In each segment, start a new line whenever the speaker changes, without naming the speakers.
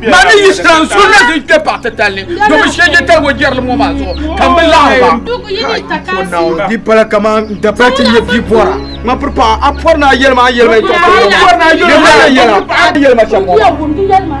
Mani yi sira n
sunna din kpe paɣa titali ni domin shege tali o jɛrili ŋɔ maa zuɣu ka n bi laɣiri
ba di pala kaman
n da pali ti nyɛ bia bɔra ŋa piri paɣa a pɔri naa yɛlima a yɛlima yɛlima yɛlima shɛm ŋɔ maa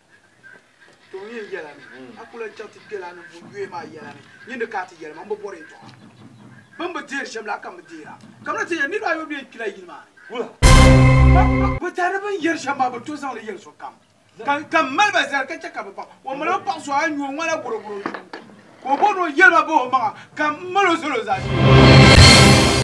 To n yɛn yɛla ni a ku lan chaŋ ti kpɛlana ninvuɣ yoya maa yɛla ni, nyin di ka a ti yɛli ma, m bi bɔri yɛtɔɣa bɛ ni bi deeri shɛm la, a ka m bi deer a. Kamina ti yɛli, Niriba ayɔbu ni yɛn kpi la yili maa ni. Wula! Bɛ daa ni bɛn yɛri shɛm maa, bɛ tooi zaŋ li yɛli sokam, ka m mali ba zali ka chɛ ka bɛ baŋ. O mali o paɣ so a nyuo ŋɔ-la bɔrɔbɔro shuu, ka o bɔri ni o yɛli ma bahi o maŋa, ka m mal o zal o zaashee.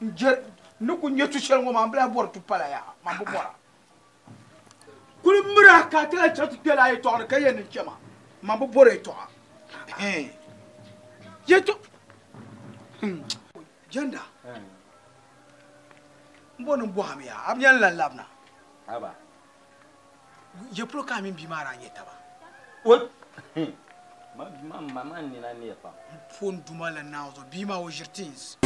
n je ni ku nya tu shɛli ŋɔ maa n bla bɔri tu pala yaa man bi bɔra kuli mira ka ti la chɛ ti kpɛla yɛtɔɣa ni ka yɛn niŋ chɛma man bi bɔri yɛtɔɣa yɛtɔ jɛnda n bɔ ni bɔhim yaa a bi yɛn lan labina Ye polo ka a mini bia maa daa nyɛ taba? O hmm, ma bia
maa ma maa nina neei pam. N pɔ n duma la
naai zuɣu, bia maa o ʒiri tins.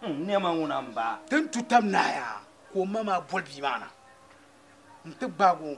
Hmm,
nɛma ŋuna n baa. Ti ni tu tab naai
a ka o ma maa boli bia maa na n ti gbaag o.